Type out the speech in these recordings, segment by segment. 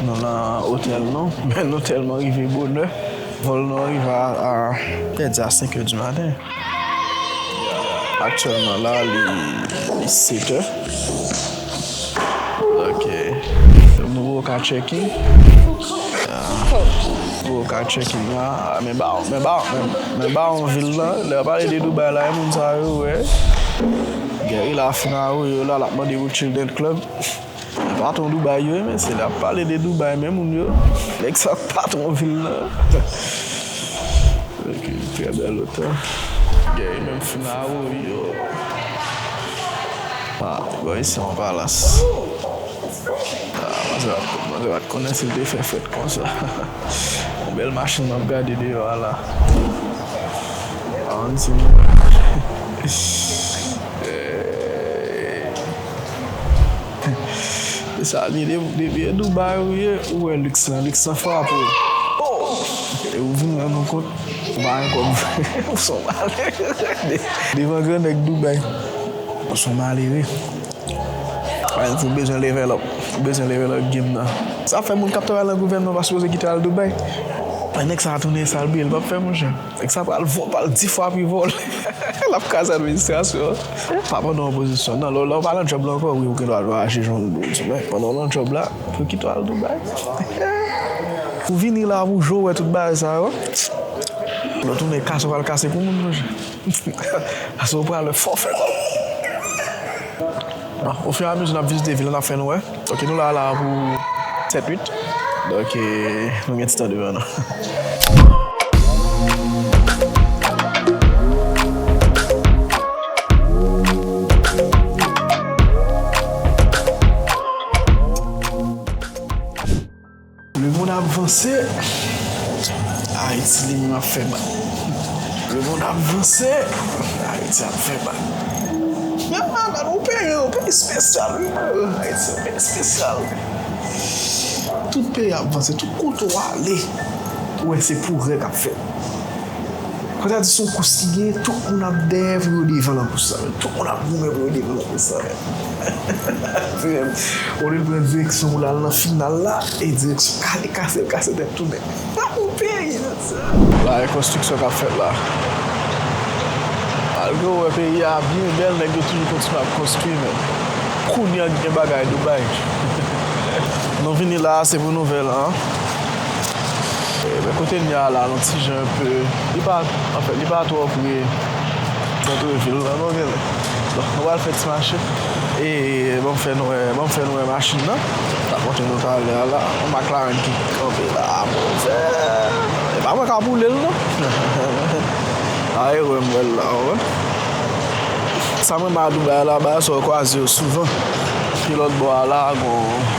Nou nan otèl nou, men nou tèlman rive bonè, vòl nou an rive a pèdi a 5 è di maten. Aktyèlman la li 7 è. Ok, nou wè w ka checking. Wè w ka checking la, men ba w, men ba w, men ba w an vil la. Lè yo pale de Dubai la, e moun sa yo wè. Gè e la fina ou yo la, l ap mande ou children club. Patron Dubai yo men se lè ap pale de Dubai men moun yo Nèg sa patron vil lan Ok trè bèl otèl Gè yo menm fin awoyo Ah bon isi se yon palas Mwen te pat konnen si l te fè fèt konsa Yon bèl machin map gade deyò a la An ti moun Ehh Mezanmi depi e Dubai ou ye ou wè lux lan, lux lan frape w ohh e ou vin rann ou kont ou pa gen kòb vre ou son malere devan gran nèg Dubai ou son malere epi ou bezwen level up ou bezwen level up game nan sa fè moun kap travay nan gouvènman pa sipoze kite al Dubai nèg sa tounen sal bliye l pap fè monchè. Nèg sa pral vo pal di fwa pi vo lap kraze administrasyon an pa pandan opozisyon nan lè ou pa nan job la ankò wi ou gen dwa aji jan ou vle men pandan ou nan job la yo kite ou al Dubai ou vini la pou jou wè tout bagay sa yo lè ou tounen kase ou pral kase pou moun monchè paske ou pral wè fòfè kòb. Au fur et à mesure nap vizite vil la nap fè nou wè ok nou la la pou 7 8 donc nou gen ti tan devan nou. Le mond ap vanse Haiti li menm ap fè bak Le mond ap vanse Haiti ap fè bak Menm malad ou peyi yo peyi spesyal wi Haiti se peyi spesyal Tout peyi ap vanse tout kote ou ale ou wè se pwogrè kap fèt. Kontradisyon kous ki genyen tout moun ap dèyè pou yo devan nan kous sa. Tout moun ap goumen pou yo devan nan kous sa. Olye l pran direksyon pou l al nan final la, e direksyon kale kase l kase tèt tounen. Sa pou peyi sa sa! Bagay konstriksyon k ap fèt la. Malgre ou wè peyi a byen bèl nèg yo toujou kontinye ap konstwi men kounye an gen bagay Dubai. Nou vini la a se pou nouvèl an. Men kote n ye a la, yon ti jan yon pe, li pa, anfen, li pa twò pre santre vil la non, gen lè. Donk, nou pral fè ti mache. E, ban m fè nou wè, ban m fè nou wè machin nan m t ap montre nou talè a la. Yon McLaren ki kanpe la a, mon Dye! E pa mwen k ap woule l non. A e wè m wè l la a, ou wè. Sa m renmen a Dubai la, bagay sa w kwaze yo souvan. Epi lòtbò a la a, gen yon.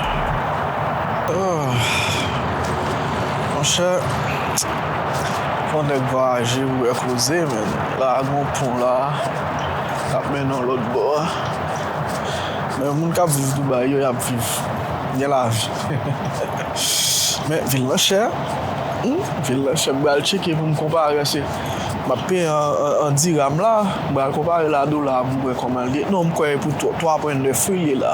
Monchè Fò nèg vwayaje pou wè koze menn la a gon pon la a kap mennen w lòtbò a men moun kap viv Dubai yo yap viv gen lavi men vil lan chè vil lan chè m pral tcheke pou m konpare se map peye an dirham la m pral konpare l a dola a pou m wè kòman l ye non m kwè e pou 3 pwen 9 wi l ye la.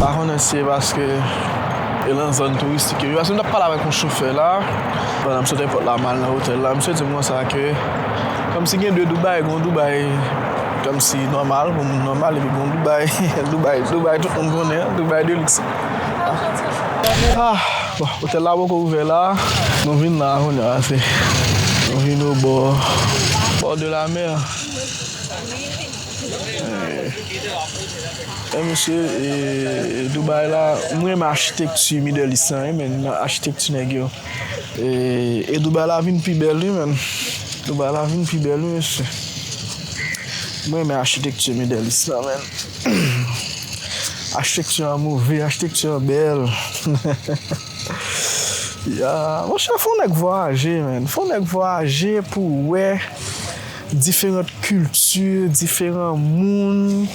Mahon an se paske e lan zòn touristik yo. Paske m tap pale avèk yon chofè la, pandan m sot èpòt la mal nan otèl la, misye di m konsa ke kòmsi gen 2 Dubai, gen yon Dubai kòmsi nòmal, pou moun nòmal epi gen yon Dubai, Dubai, Dubai tout moun konnen an, Dubai de liks. Bon, otèl la poko ouvè la, nou vin la kounya se, nou vin o bò, bò de la mè. Bon mesye e Dubai la m renmen achitekti middle east lan wi men achitekti nèg yo e Dubai la vin pi bèl wi men Dubai la vin pi bèl wi mesye m renmen achitekti middle east lan men achitekti an move achitekti an bèl monchè fon nèg vwayaje men fon nèg vwayaje pou wè Diferant kilti, diferan moun.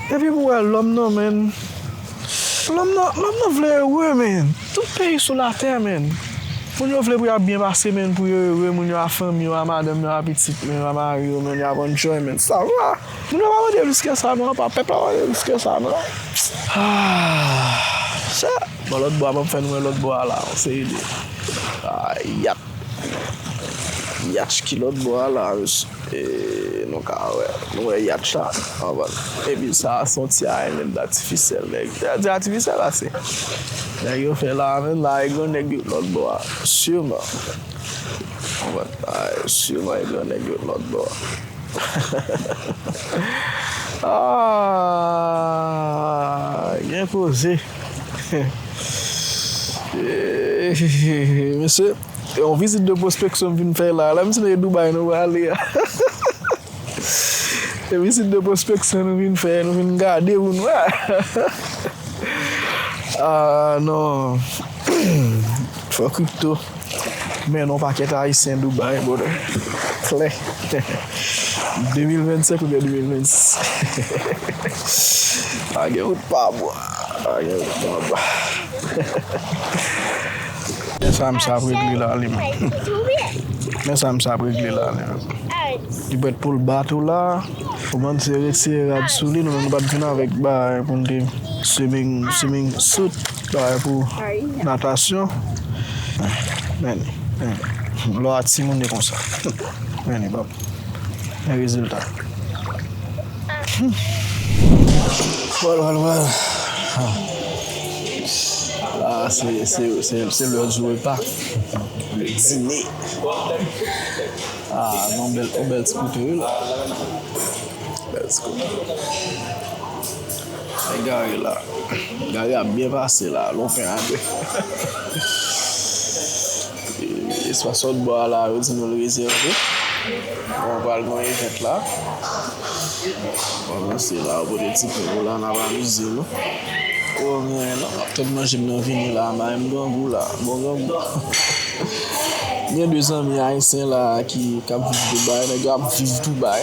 Epi pou wè lòm nan menn. Lòm nan, lòm nan vle ere menn. Tout peyi sou latè menn. Moun yo vle pou ya byen pase menn, pou yo ere, moun yo a fanmi yo, a madanm yo, a pitit yo, a mari yo menn, yap enjoy menn. Sa va. Moun yo pa mande plis ke sa non, apa pèp la pa mande plis ke sa non. Aah! Chè! Bon lòt bò a banm fè nou wè lòt bò a la, yon seri de. Aah yap! Yatch ki lòt bò a la ee nou ka wè nou wè yatch la anvan epi sa a se yon ti arèn menm t atifisyèl nèg yo te di atifisyèl ase nèg yo fè la a menm la a gen nèg yo t lòt bò a siman ou wè la a siman gen nèg yo t lòt bò aahh gen koze. Mesye, e yon vizit de pwospeksyon m vin fè la a. La m si nou e Dubai nou prale a. E vizit de pwospeksyon nou vin fè, nou vin gade pou nou a. Aaa non, fò kripto. Men yon pakèt ayisyen Dubai brother klè 2025 oubyen 2026 pa gen wout pa bwa pa gen wout pa bwa men sa misye ap regle la li menm men sa misye ap regle la li menm li prèt poul bat ou la ou bann se retire rad sou li nou menm nou pat vin avèk bagay pou nou te swimming swimming suit. Bagay pou natasyon Men Men Lò a timoun e konsa Men e bab Men rezilta Wal wal wal La a se se se se lè jou repa Lè dine A gon bèl ti kote wi la Bèl ti kote Gade Gary la. Gary ap byen pase la. Lon pen a 2. Espas sot bò a la yo di nou l rezève. Bon, pral gon event la. Bon, nou se la yo pote ti pen yo la n ap amize nou. Ou wè mwen menm nan, m ap tann manje m nan vini la. Mayi m grangou la. Bon grangou. Gen 2 zanmi ayisyen la ki k ap viv Dubai. Nèg yo ap viv Dubai.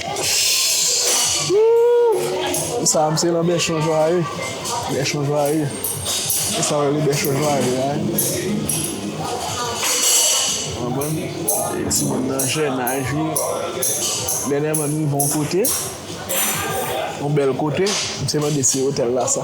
Wouuuff Sa a se nan bèchon jwaye Bèchon jwaye Se sa yo rele bèchon jwaye la Ou konprann E timoun nan jènaj li Dènyèman m rive yon kote Yon bèl kote M se mande si otèl la sa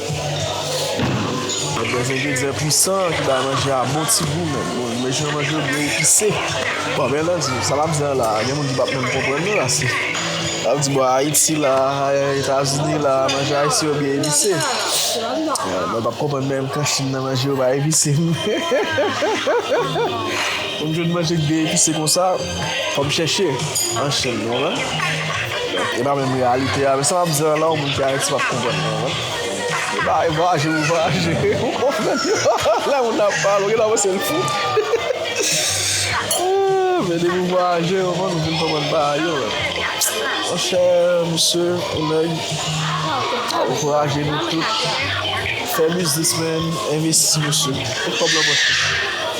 Bèbè se ingredyan pwisan ki bay manje a bon ti gou menn. Bon, imajine manje yo byen epise. Bon, byen antandu, sa l ap di an la, gen moun ki p ap menm konprann nou la. Se, l ap di, bon, Ayiti la, Etazini la, manje ayisyen yo byen epise. Mwen pa p konprann menm kan Chin nan manje yo pa epise. Pou m jwenn manje ki byen epise konsa. Fò m chèche an Chin nou wè. E pa menm reyalite a. Men sa m ap di lan la ou moun ki Ayiti p ap konprann mwen wè. E pa e vwaje ou vwaje. Ou konprann yo. Lè moun nan ap pale ou gen tan panse l fou. Men depi ou vwaje ou konprann ou vin konprann bagay yo wè. Monchè misye ou nèg ankouraje nou tout. Fè biznis men. Envesti misye. Met kòb lan pòch ou.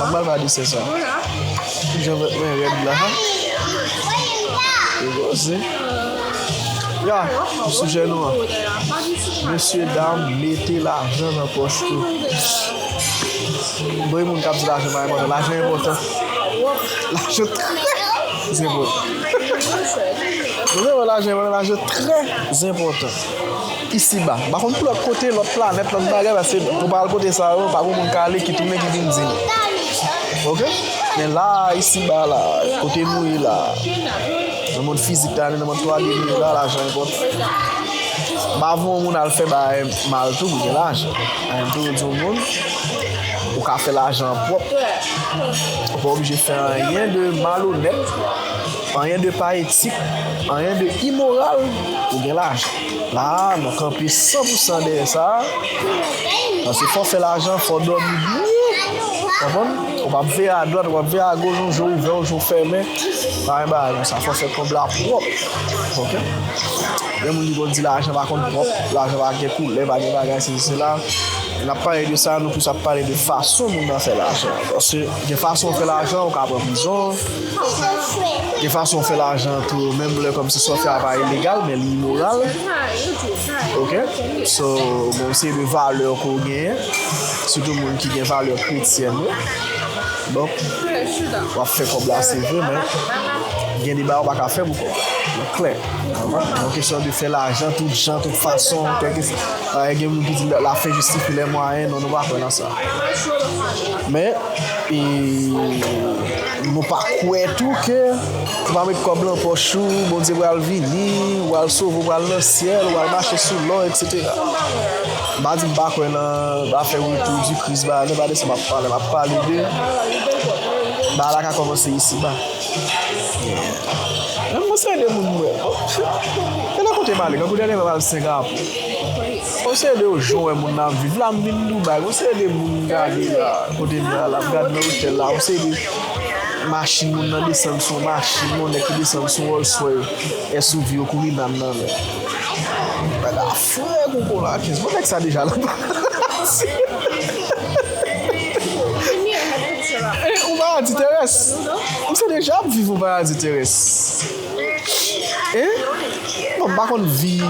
An bal pa disè sa. Ki jan vèt mwen rèd la. Yo koze. Ya, pou sijè nou an. Mesye dam, mete lajan nan pòch nou. Mwen moun kap di lajan pa enpòtan. Lajan enpòtan. Lajan trè zenpòtan. Mwen mwen lajan enpòtan. Lajan trè zenpòtan. Isiba. M pa konn pou lòt kote, lòt planèt, lòt bagay paske mwen pa al kote sa yo, pa gen moun k ale ki tounen ki vin di m. Ok? Men la a, isiba a la a, kote nou ye la a, nan mond fizik la, nan mond 3D nou ye la a, lajan enpòtan. M avè yon moun al fè bagay mal tou pou gen lajan. An m toujou di yon moun, ou ka fè lajan pwòp, ou pa oblije fè anyen de malonèt, anyen de pa etik, anyen de imoral pou gen lajan. La a, nou kanpe san pou san dèyè sa a. Paske fò w fè lajan, fò w dòmi byen. Ou konprann? Ou pa ap veye adwat, ou pa ap veye agoch, yon je ouvè, yon je w fèmen. Pa gen bagay konsa. Fò w fè kòb la pwòp. Ok? Gen moun ki konn di lajan pa konn pwòp, lajan pa gen koulè, pa gen bagay sesi sela. Lè n ap pale de sa a, nou plis ap pale de fason moun nan fè lajan. Paske gen fason w fè lajan, ou ka pran prizon. Gen fason ou fè lajan tou menm lè kòmsi sa w fè a pa ilegal men li imoral ok so gen yon seri de valè ke w genyen sitou moun ki gen valè kretyèn yo donk w ap fè kòb la se vre men gen de bagay ou pa ka fè pou kòb la mwen klè yon kesyon de fè lajan tout jan tout fason gen moun ki di la fin jistifye lè mwayen non nou pa kwè nan sa men E nou pa kwè tou ke ou pa met kòb lan pòch ou, Bondye pral vini, ou al sove, ou pral nan syèl, ou al mache sou lò, eksetera. M pa di m pa kwè nan afè retou di Kris ba, men pa de sa m ap pale. M ap pale de bagay la ka kòmanse isi ba. Mwen se yon de moun m wè. Gen nan kote m ale, gangou dènèman m al Sengapo. Mwen se de ou jwen moun nan viv la mvin Dubai mwen se de moun gade la kote mwen ala m gade nan otèl la mwen se de machin moun nan desann sou yon machin yon nèg ki desann sou yon Rolls Royce SUV yo kouri bann nan men nèg la fre kou konakens bon nèg sa deja nan palas yon paradi terès mwen se deja ap viv yon paradi terès. Bon m pa konn vi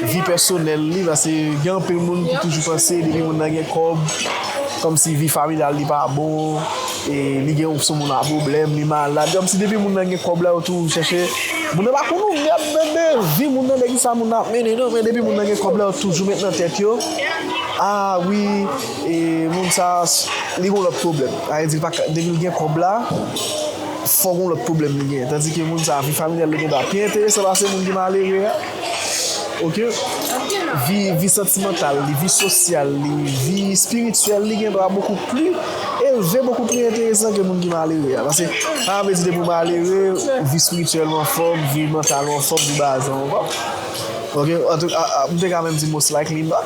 vi pèsonèl li pase gen anpil moun ki toujou panse depi moun nan gen kòb kòmsi vi familyal li pa bon e li gen sou moun a pwoblèm li malad kòmsi depi moun nan gen kòb la yo toujou chèche moun nan pa konn ouvri ap mande vi moun nan de kisa moun nan ap mennen non men depi moun nan gen kòb la yo toujou met nan tèt yo a wi e moun sa li gon lòt pwoblèm sa vle di depi l gen kòb la. Fò gon lòt pwoblèm li genyen. Tandi ke moun sa a, vi familyal li gen dwa pi enteresan pase moun ki malere a. Ok. Vi, vi santimantal li, vi sosyal li, vi espirityèl li gen dwa bokou pli elve, bokou pli enteresan ke moun ki malere a. Pase, sa pa vle di depi ou malere, vi espirityèl ou anfòm, vi mantal ou anfòm, vi baze ou anfòm. Ok. Antou, a, a, m te ka menm di most likely not.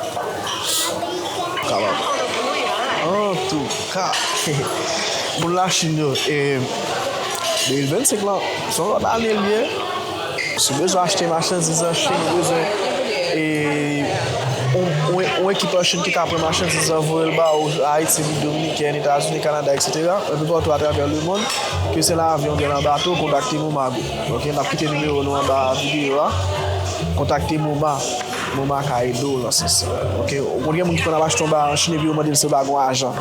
Kapab. Antou. Ha! Moun Lachin yo, e 2025 lan, se yon lòt ane li ye. Si w bezwen achte machandiz an Chin, ou bezwen e yon ekip an Chin ki ka pran machandiz lan voye l ba ou Ayiti, Repiblik Dominikèn, Etazini, Kanada, eksetera, anpe patou atravè lemonn, ke se nan avyon oubyen nan bato, kontakte MOMA group. Ok, n ap kite nimewo nou anba videyo a. Kontakte MOMA. Mwen ba ka ede w nan sans sa. Ok. Ou konn gen moun ki konn ap achte yon bagay an Chine epi yo mande l si yo pa gon ajan.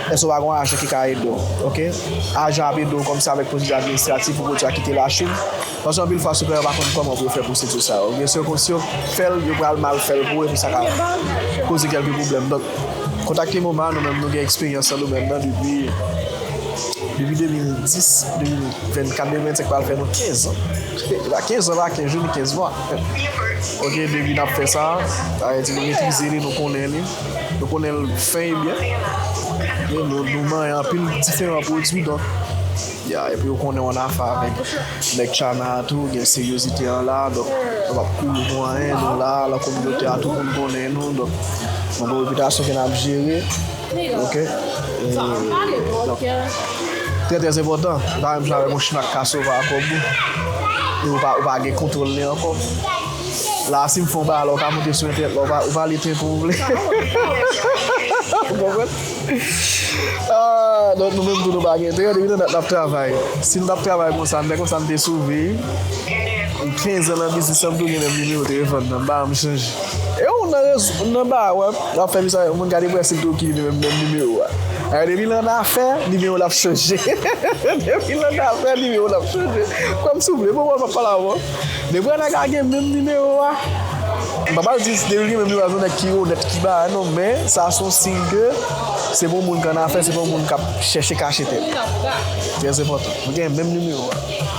Èske ou pa gon ajan ki ka ede w. Ok. Ajan ap ede w kòmsi avèk pwosedi administratif pou pwodui a kite la Chine. Paske anpil fwa sipleyè yo pa konn kòman pou yo fè pwosedi sa yo. Oubyen si yo konn si yo fè l, yo pral mal fè l pou ou epi sa ka koze kèlke pwoblèm. Donk, kontakte MoMa, nou menm nou gen eksperyans nan domèn nan depi depi 2010, 2024, 2025 pral fè nou 15 an. Se pa 15 an pa 15 jou ni 15 mwa. Ok depi nap fè sa Ayiti nou metrize li nou konnen li nou konnen l fen e byen e nou manyen anpil diferan pwodui donk ya epi ou konnen w ann afe avèk nèg China a tou gen seryozite an la donk nou pap kouri pou anyen nou la lan kominote a tout moun konnen nou donk nou gen repitasyon ke nap jere. Ok Trè trè enpòtan Se pa menm jan avèk yon chimè ak kasova ak kòbou e ou pa gen kontwòl li ankò La a si m fè yon bagay la ou ka monte sou entènèt la ou va li tenkou ou vle Ou konprann Donk nou menm tou nou pa gen entèrè depi nan dat n ap travay Si nou t ap travay konsa n te konsa n te sove Kenz an nan biznis lan m tou gen menm nimewo telefòn nan m pa janm chanje. Ew nan rezo ou nan bar wap fè visa yon moun gade prensip tou ki menm nimewo a ayy depi lan afè nimewo lap chanje depi lan afè nimewo lap chanje kwèm souple bon wap pale avèw depi yon nèg a gen menm nimewo a mpa pral di depi li gen menm nimewo a se yon nèg ki onèt ki ba non men sa son siy ke se pa yon moun ki annafè se pa yon moun kap chèche kache tèt li trèzèpòtan nou gen menm nimewo a.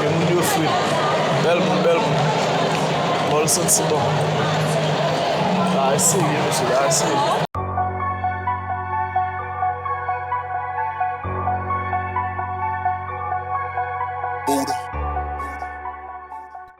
Ke moun yo frit. Bel moun bel moun. Bol santi bon. Bagay serye mesye bagay serye.